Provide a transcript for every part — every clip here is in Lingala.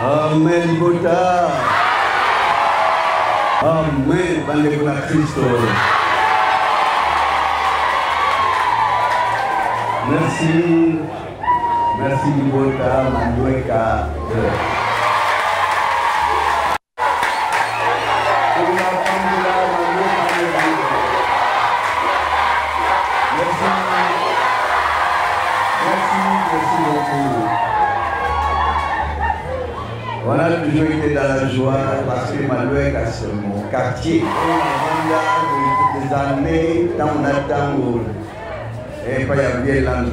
Amen, Buddha. Amen, bandeko na Kristo. Merci. Merci, Buddha, Manueka. Yeah. quartier nafanda des années ntango na ntango epai ya vielando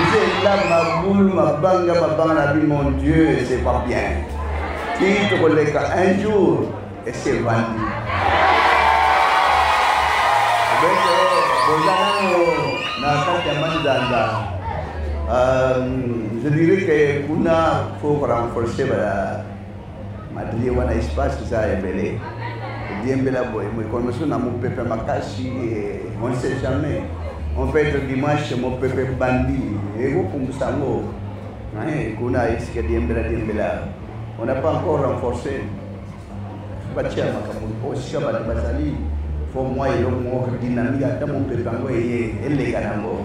nzela mabulu mabanga mabanga na bi mon dieu c'est pas bien kii tokoleka un jour esi evandi bete boza nano na kati ya manzanza euh, je dirais que kuna faut renforcer ba madrie wana espace eza ebele diembela boye mokolo mosusu na mopepe makasi eh, on ne sait jamais on peut être dimanche mopepe bandi ekokumbusa yango eh, kuna esika diembela diembela on n'a pas encore renforcé batia makambo mpo sika bato bazali fo mwa eloko moko dynamique ata mopepe yango eye eleka nango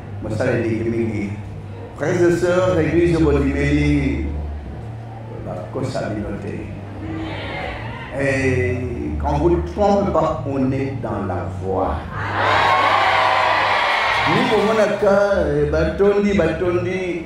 mosala eleki mingi frères et sœurs église bondimeli bakosa bino te et quand vous ne trompez pas on est dans la voie ni komonaka eh, batondi batondi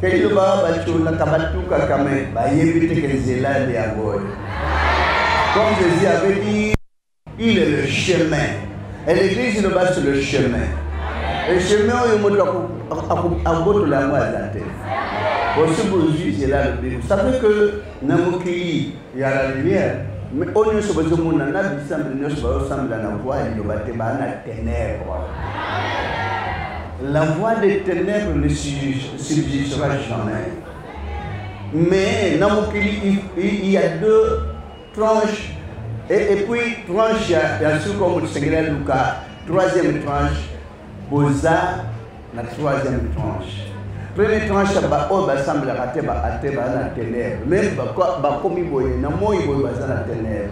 Kailu ba bachula kabatuka kame bayebi te ke nzela nde yango oyo comme jésus avait dit il est le chemin et l'église loba sur le chemin le chemin oyo moto akobotola yango aza te osi bozwi nzela alobi ça fait que na mokili ya la lumière mais oyo nyonso bazomona na bisambeli nyonso bazosambela na voi ya liloba te baa na ténèbre la voix des ténèbres ne subsistera jamais mais na mokili il y a deux tranches et, et puis tranche ya, ya suka omo tosengeli aluka troisième tranche boza na troisième tranche premier tranche ya baoyo basambelaka te baate baza na tenere meme bakomi boye na moi boye baza na tenere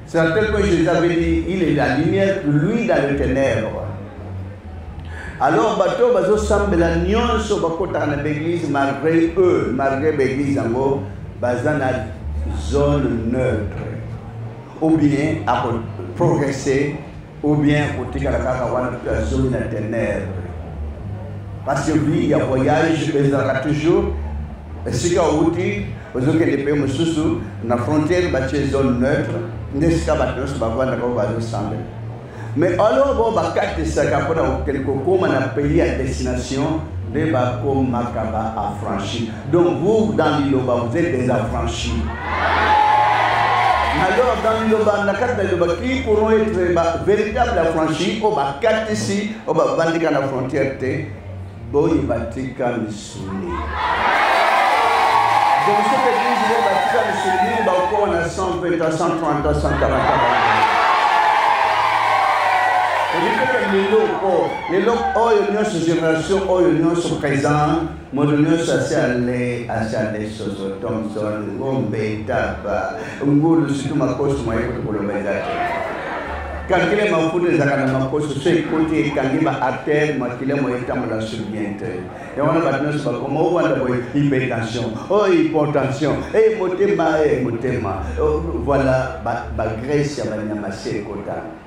c'est à tel point jésus avait dit il est la lumière lui dans le ténèbre alors bato oyo bazosambela nyonso bakotaka na baeglise malgré eux malgré baeglise yango baza na zone neutre ou bien akoprogresse ou bien kotikala kaka wana mpe azongi na tenere parce que vie ya voyage ezalaka toujours esika outi ozokende mpe mosusu na frontière batie zone neutre nde esika bato nyonso bavandaka oyo bazosambela mais alors bo bakatisaka mpona kokende kokóma na pays ya destination nde bakomaka ba affranchi Donc vous dans Liloba vous êtes des affranchis. Alors dans Liloba na kati na Liloba qui pourront être ba véritable affranchis au ba kati si au ba bandika na frontière te boyi batika misuni. Donc ce que dit je batika misuni ba ko na 120 à 130 à 140. Lelo oyo, lelo oyo nyonso generation oyo nyonso présent moto nyonso asiale asiale soso thomson ngombe taba ngulu situ makosi mwaye kuti koloba eza te kankile mafuta ezalaka na makosi so ekoti ekangi ba artère makila moye etambola sur bien te yango wana bato nyonso bakoma owanda boye hypertension o oh, hypotension e eh, motema e eh, motema oh, voilà bagrèce ya banyama se ekotana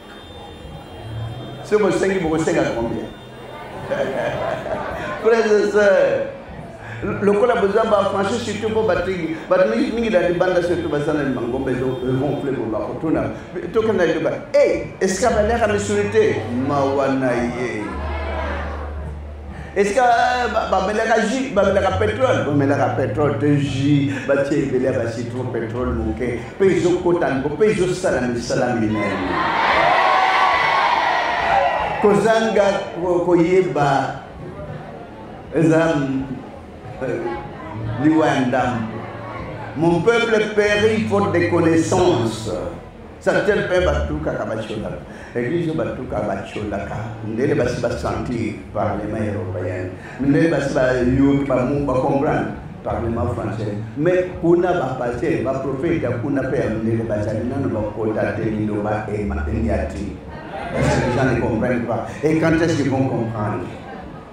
soki bosengi bokosenga combien frères et sœurs lokola boza bafranchi surtout mpo batiki bato mingi na libanda surtout baza na mangomba ezogonfle bo bakotuna tokenda liloba e esika baliaka misuni te mawa na ye esika euh, bamelaka jus bamelaka petrole bamelaka petrole to jus batie ebele ya bacitron petrole moke mpe ezokota nko mpe ezosala misala minene kozanga koyeba eza euh, liwa ya ndambo mon peuple périt faute de connaissance Certains mpe batukaka bacolaka eglise batuka bacolaka ndele basi basentir parlement européen ndele basi bayoki bacomprendre parlement français mais kuna bapaster baprofete ya kuna mpe ya ndele bazali nano bakota te liloba eniati parce que les gens ne comprennent pas et quand est-ce qu'ils vont comprendre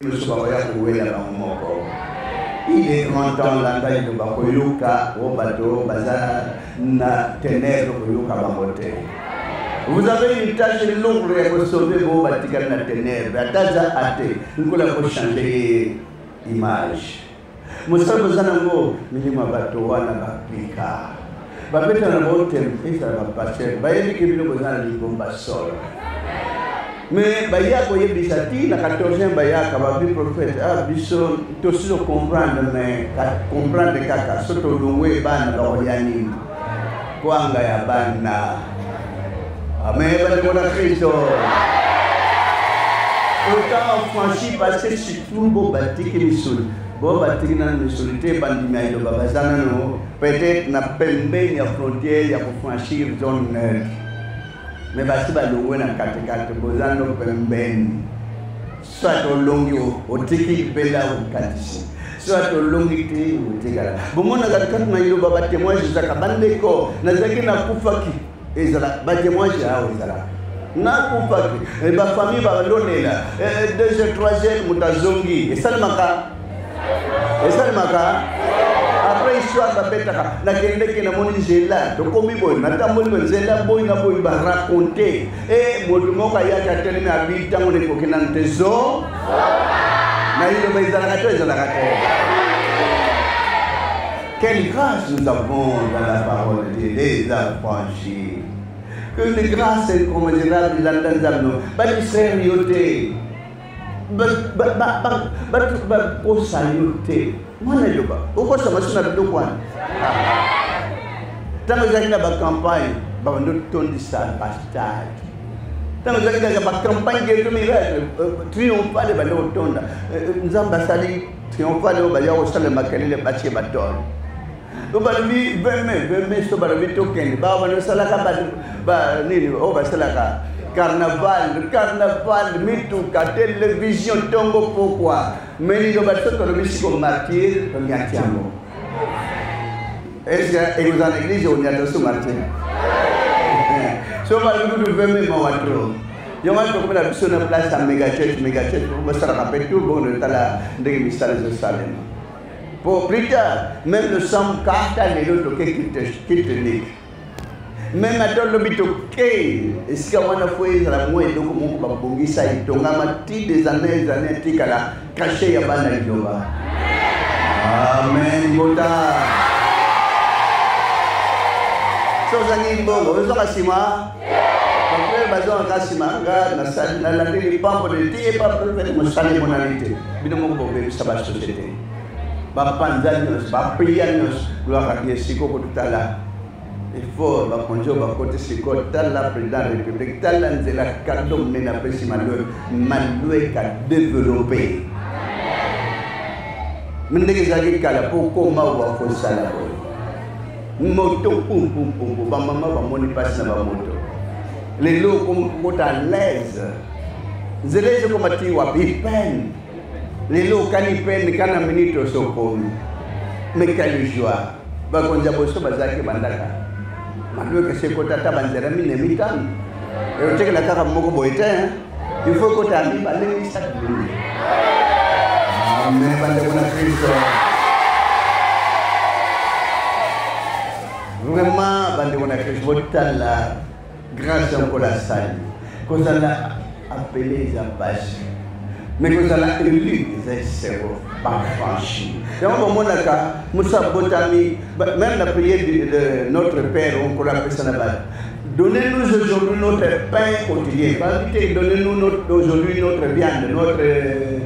Biso bakoya kowela bango moko. Il est grand temps landa iloba koyoka o bato baza na tenèbre koyoka bango te. Vous avez une tâche lourde ya kosauve bo batikali na tenèbre ata aza ate nkola kochanger ye image. mosala boza nango milimo ya bato wana bapika babeta na baotem ezala bapaster bayebi ke bino boza na libomba solo me baya koyebisa ti na 14 bayaka babi prophète a ah, biso tosi tocomprendre me comprendre kaka so tolongwe bana bakoya nini kwanga ya bana amen bandeko na kristo autant franchi parce que surtout bo batiki misuni bo batiki na misuni te bandimi ya iloba baza nano peut-être na pembeni ya frontière ya kofranchir zone neutre mais basi balongwe na katikati boza no pembeni soit olongi otiki libela okatisi soit olongi te otikala bomonaka kati na iloba batemoignage ezalaka bandeko nazalaki nakufaki ezala batemoignage awa ezalaka nakufaki eh, bafamille balonela eh, deuxième troisième moto azongi esalemaka esalemaka après histoire babetaka nakendeki namoni nzela tokomi boye natamboli boye nzela boyi na boyi baraconte e moto moko ayaki atelemi abi ntango nekoki nanu te zo nayiloba ezalaka to ezalaka te Quelle grâce nous avons dans la parole de Dieu, les affranchis. Que les grâces incommensurable, la danzano, pas du sérieux. bakosa yo te mwana eloba okosa masi na biloko wana ntango ezalaki na bacampagne babando tondisa bastade ntango ezalaki kaka bacampagne geto miracle euh, triomphale bande kotonda euh, euh, nzambe asali triomphale oyo baya kosala makelele batie batole to balobi veme veme so balobi tokende ba bana salaka ba ba nini o ba salaka carnaval carnaval mituka television tongo pokwa me nino bato tolobi siko martire tonyati yango eske ekozala na eglise onyata so martire so balobi kutu veme mawa tro yango wana tokomi na biso na place ya megachurch megachurch basalaka mpe tout bongo totala ndenge misala ezosalema Po plus tard, même le sang kata lelo toke kitnik. Même ata lobi toke esika wana fo ezala mwa eloko moko babongisa etongama ti des années des années etikala kashe ya bana liloba. Amen bota. Sozangi mbongo, ozonga sima. baprofete baza na kasi ma nga nasali nalandeli mpambo de te ye baprofete mosali emonani te bino moko bobebisa basosiete bapanza nyonso bapriya nyonso gloire adie siko kotala ifo bakonzi oyo bakoti sikoyo tala président ya république tala nzela kado monene apesi malue malue ka développe ndenge ezalaki kala mpo okoma owa kosala boye moto pumpumpumpu bamama bamoni mpasi na bamoto lelo okota alaise nzela ezokoma ti wapi pene lelo okani pene kana minute osokomi mekali joi bakonzi ya boso bazalaki bandaka madoki esekota ata banzela mine mitano eyotekela kaka moko boye te Il faut que tu ba leli sa Biblia. Amen, bande kuna Kristo. Vraiment, bande kuna Kristo botala grâce en kola sali. Kozala appelé za basi. Mais kozala élu za sebo ba franchi. Donc au monde là, Moussa Botami, même la prière de notre père, on kola pesa na ba Donnez-nous aujourd'hui notre pain quotidien. Donnez-nous notre, aujourd'hui notre viande, notre euh,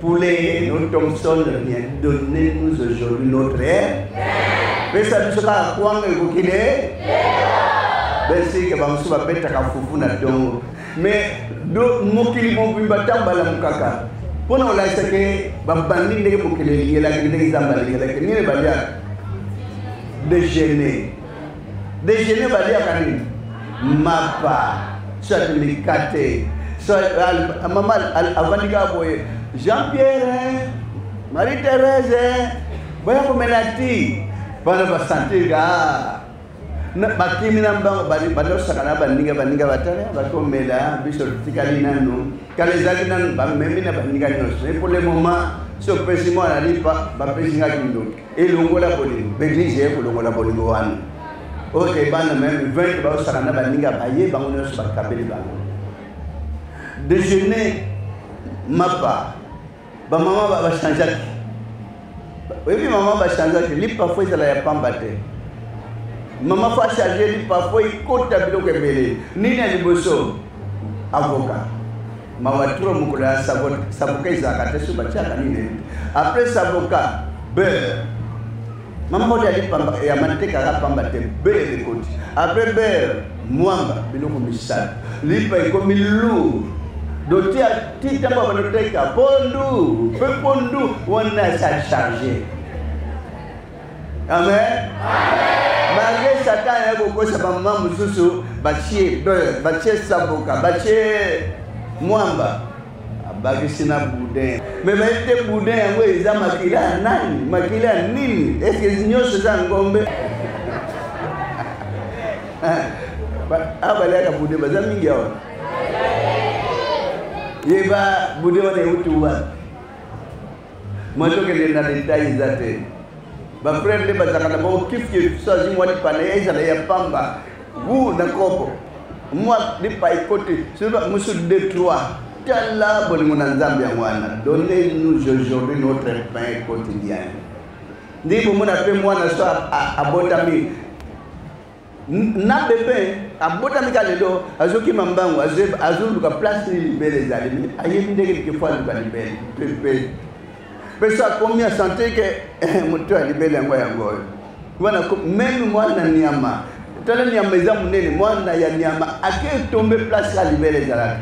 poulet, notre Thompson, bien. Donnez-nous aujourd'hui notre air. Mais ça nous sera quoi que vous quittez Merci que vous soyez bête à foufou na dongo. Mais mokili mobimba ntango balamukaka mpo na kolakisa ke babandi ndenge mokili elelaki ndenge nzambe alingelaki nini balia dejeuner dejeuner baliaka nini mapa soit mikate soit mama avandi kaka boye jean pierre marie therese boya komela ti bana basentir ka bakimi na mbango badosaka na baninga baninga batala bakomela biso tikali nanu kala ezali nanu bamemi na baninga nyonso epole moma so opesi mwana lipa bapesi nga kindoki elongola bolingo baeglise eye kolongola bolingo wana oyo ke bana meme 20 baosala na baninga baye bango nyonso bakabeli bango déjeuner mapa bamama bachangeaki oyebi mama bachangeaki li parfois ezala ya pamba te mama fo achange li parfois ekota biloko ebele nini ya liboso avoka mawa tro mokolo ya saboka ezalaka te so batiaka nini après saboka beurre mamodi ali pamba ya matekaka pamba te beurre ekoti après beurre mwamba biloko misato lipa ekomi lourd dotia ti ntango banoteka pondu mpe pondu wana esa charge amen malgre satan aye kokosa bamama mosusu batie beurre batie saboka batie mwamba abakisi na boudin me bayebi te boudin yango eza makila ya nani makila ya nini eske nyonso eza ngombe awa baliaka boudin baza mingi awa yeba boudin wana euti wapi Moi tokende na detail eza te bafrere nde bazalaka na bango kifkif so azwi mwa lipana ya ezala ya pamba gu na kopo mwa lipa ekoti soba mosu de trois tala bolingo na nzambe yango wana donne nous aujourd'hui notre pain quotidien ndenge bomona mpe mwana so abotami na bebe abotami ka lelo azokima mbangu azoluka place nini libele ezali me ayebi ndenge likefo aluka libele pepe mpe so akomi asante ke eh, moto ya libele yango yango oyo wana meme mwana nyama tala nyama eza monene mwana ya nyama ake tombe place ya libele ezalaka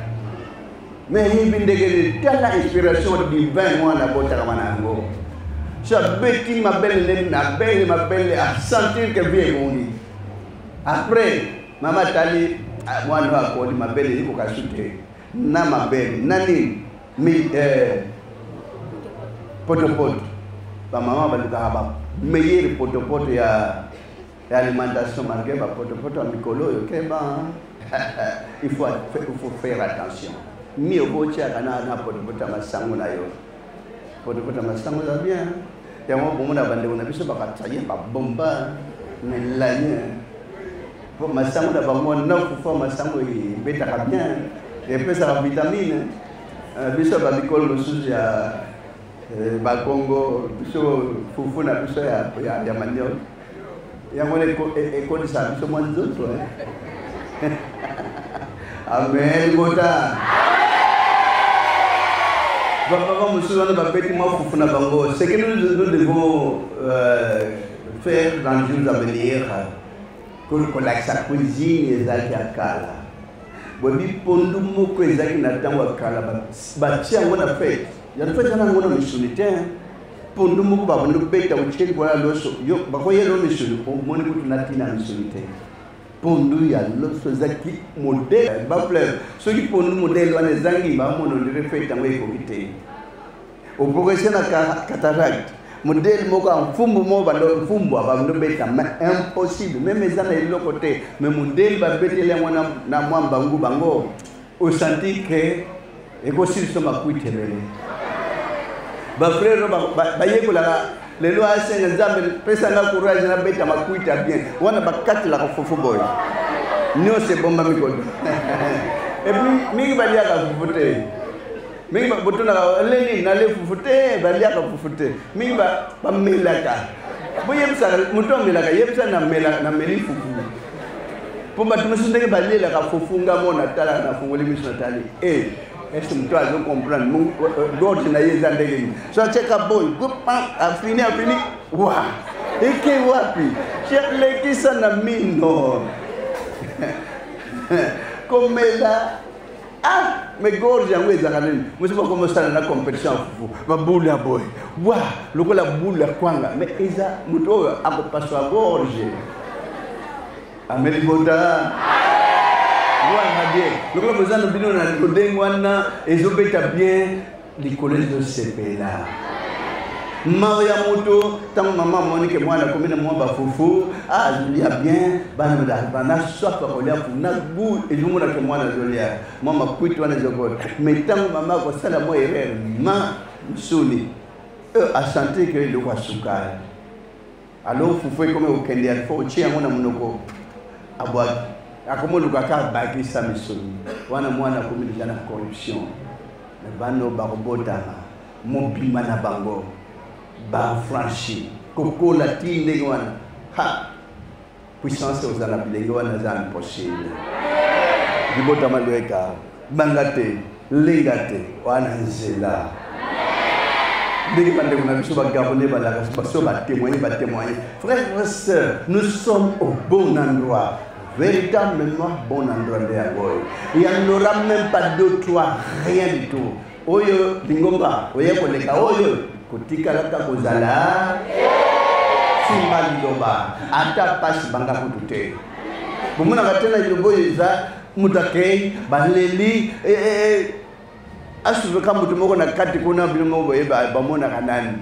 mais yebi ndenge nini tala inspiration divin mwana abotakama na yango so abeti mabele ndenge mabele mabele asentir ke vie ebongi après mama atali ah, mwana oyo akoli mabele ekoka su te na mabele na nini eh, potopoto bamama balukaka ba meilleur potopoto ya ya alimentation malgré bapotopoto ya mikolo oyo keba il faut, il faut faire attention mi okotyaka na, na potopoto ya masango na yo potopoto ya masango eza bien yango bomona bandeko na biso bakatisa ye babomba melanie po masango na bango nakufa masango ebetaka bien epesaka vitamine euh, biso bamikolo mosusu ya euh, bakongo biso fufu na biso ya manioke yango wana ekolisa biso mwa nzoto amen bota bapapa mosusu wana babeti mwa fufu na bango ce que nous devons euh, faire dans jours à venir kolakisa cuisine ezalaki ya kala boyebi pondu moko ezalaki na ntango ya kala batia yango na fete yango fete yanango na misuni te pondu moko babandi kobeta otye likolo ya loso yo bakoyelo misuni omoni kutu na ntina ya misuni te pondu ya loso ezalaki modele bafleur soki pondu modele wana ezangi bamono ndire fete yango ekoki te oprogrese na cataracte modele moko ya mfumbu moko bando mfumbu abando beta ma impossible meme eza na eloko te me modele babeteli yango na mwa mbangu bango osanti ke ekosilisa makwiti ebele bafrere bayekolaka lelo asenga nzambe pesa nga courage nabeta makwiti ya bien wana bakatelaka fufu boye nyonso ebombami koda epuis mingi baliaka fufu te mingi botunaka leni nale fufu te baliaka fufu te mingi bamelaka boyebisaka moto amelaka yebisa nameli fufu mpo bato mosusu ndenge balelaka fufu nga mo natala nafungoli miso natali e eh, ese moto azo comprendre dorde na ye eza ndenge nini so atyeka boy afini afini wa eke wapi lekisa na mino komela ah mais gorge yango ezalaka nini mosi bakomosala na competition ya fufu babulu ya boye wa lokola bulu ya kwanga mais eza moto oyo akopaswa gorge ameli bota wana bien lokola boza na bino na lodenge wana ezobeta bien likolo ezosepela mawa ya moto ntango mama amoni ke mwana akomi na mwa bafufu alia ah, bien bana swaka kolia kuna gu ezomona ke mwana azolia mwa makwiti wana ezokota mai ntango mama akosala mwa erreur ma msuni euh, asante ke eloko asukala alo fufu ekomi kokende ya fo otie yango na monoko abwaki akomi oluka kaka bakisa misoni wana mwana akomi deja na corruption na bano bakobotama mobima na bango bafranchi kokola ti ndenge wana ha puissance oza na bilenge wana eza impossible libota malueka banga te lenga te wana nzela ndenge bandeko na biso bagabone balaka baso batémoigne batémoigne frère frère sœur nous sommes au bon endroit véritablement bon endroit nde yango oyo il y en aura même pas deux trois rien du tout Oyo lingomba oye koleka oyo kotikalaka kozala simba liloba ata pasi banga kutu te bomonaka te na liloba oyo eza moto akei baleli e, e, e, asusuka moto moko na kati kuna bino moko boye bamonaka nani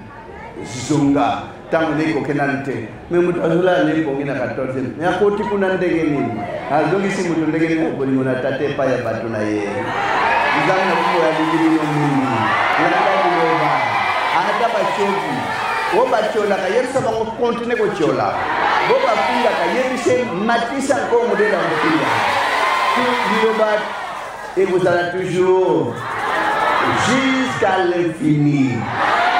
zonga ntango nde ekokenda nte me moto azolala na ebongi na 14 me akoti kuna ndenge nini azongisi moto ndenge nini akolingo na tata epai ya bato na ye nzambe na kubo ya bibibino mingi landa biloba ata batyoki o batyolaka yebisa bango kontine kotyola bo bafingaka yebise matisa nko modele ya kofinga biloba ekozala toujours jusqu'à l'infini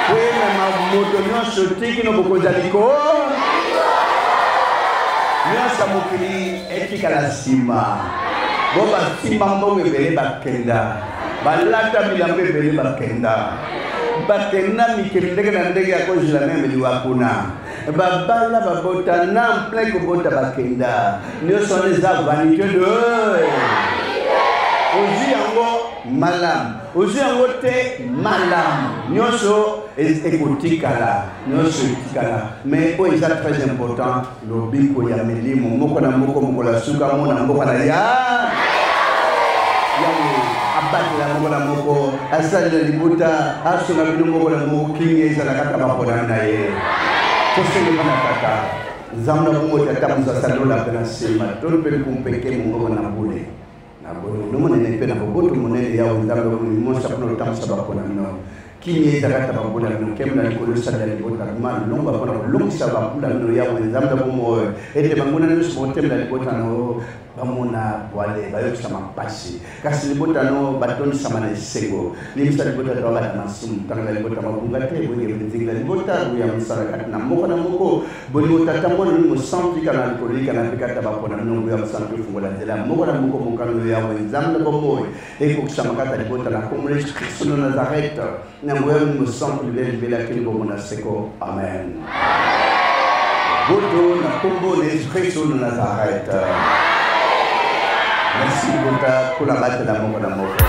koyemema moto nyonso tiki no bokonzi ya likolo nyonso ya mokili etikala nsima bo basimba mbongo ebele bakenda balata bilambo ebele bakenda bakenda mikili ndenge na ndenge ya kozela meme liwa kuna babala babota na plein kobota bakenda nyonso wana eza vanité de ozwi yango malamu ozwi yango te malamu nyonso ekotikala nyonso etikala mais oyo eza très important lobiko ya milimo moko na moko mokolo ya suka mona mboka na ya yango abatela moko na moko asali na libota asunga bino moko na moko kingi ezala kaka baponami na ye tosengelaki na kaka nzambe na bongo tata mozasalola mpe na nsima tolo mpe likumpeke mongoko na bule na bolingo monene mpe na boboto monene yawe nzambe omonisa mpona lotambusa baponami nao kimia ezala kaka bambula bino nkembo na likolo esala libota ma longwa mpona kolongisa bambula bino yawe nzambe ya bomoi ete banguna nyonso bokotemela libota na bamona bwale bayokisama mpasi kasi libota no batondisama na esengo limbisa libota to abata masumu ntanga na libota mabunga te boyenge benzingila libota ya mosala kati na moko na moko bolingo tata mwana ni mosantu ikana na likolo ikana mpe kata bapona nongo ya mosantu efungola nzela moko na moko mokano yawe nzambe na bomoi ekokisama kata libota na kombo na yesu kristo na nazarete na nguya ya molimo santu libela libela kini bombo na seko amen boto na nkombo na yesu kristo na nazarete merci bota kola batela moko na moko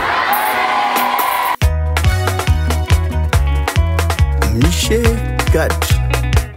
michel gat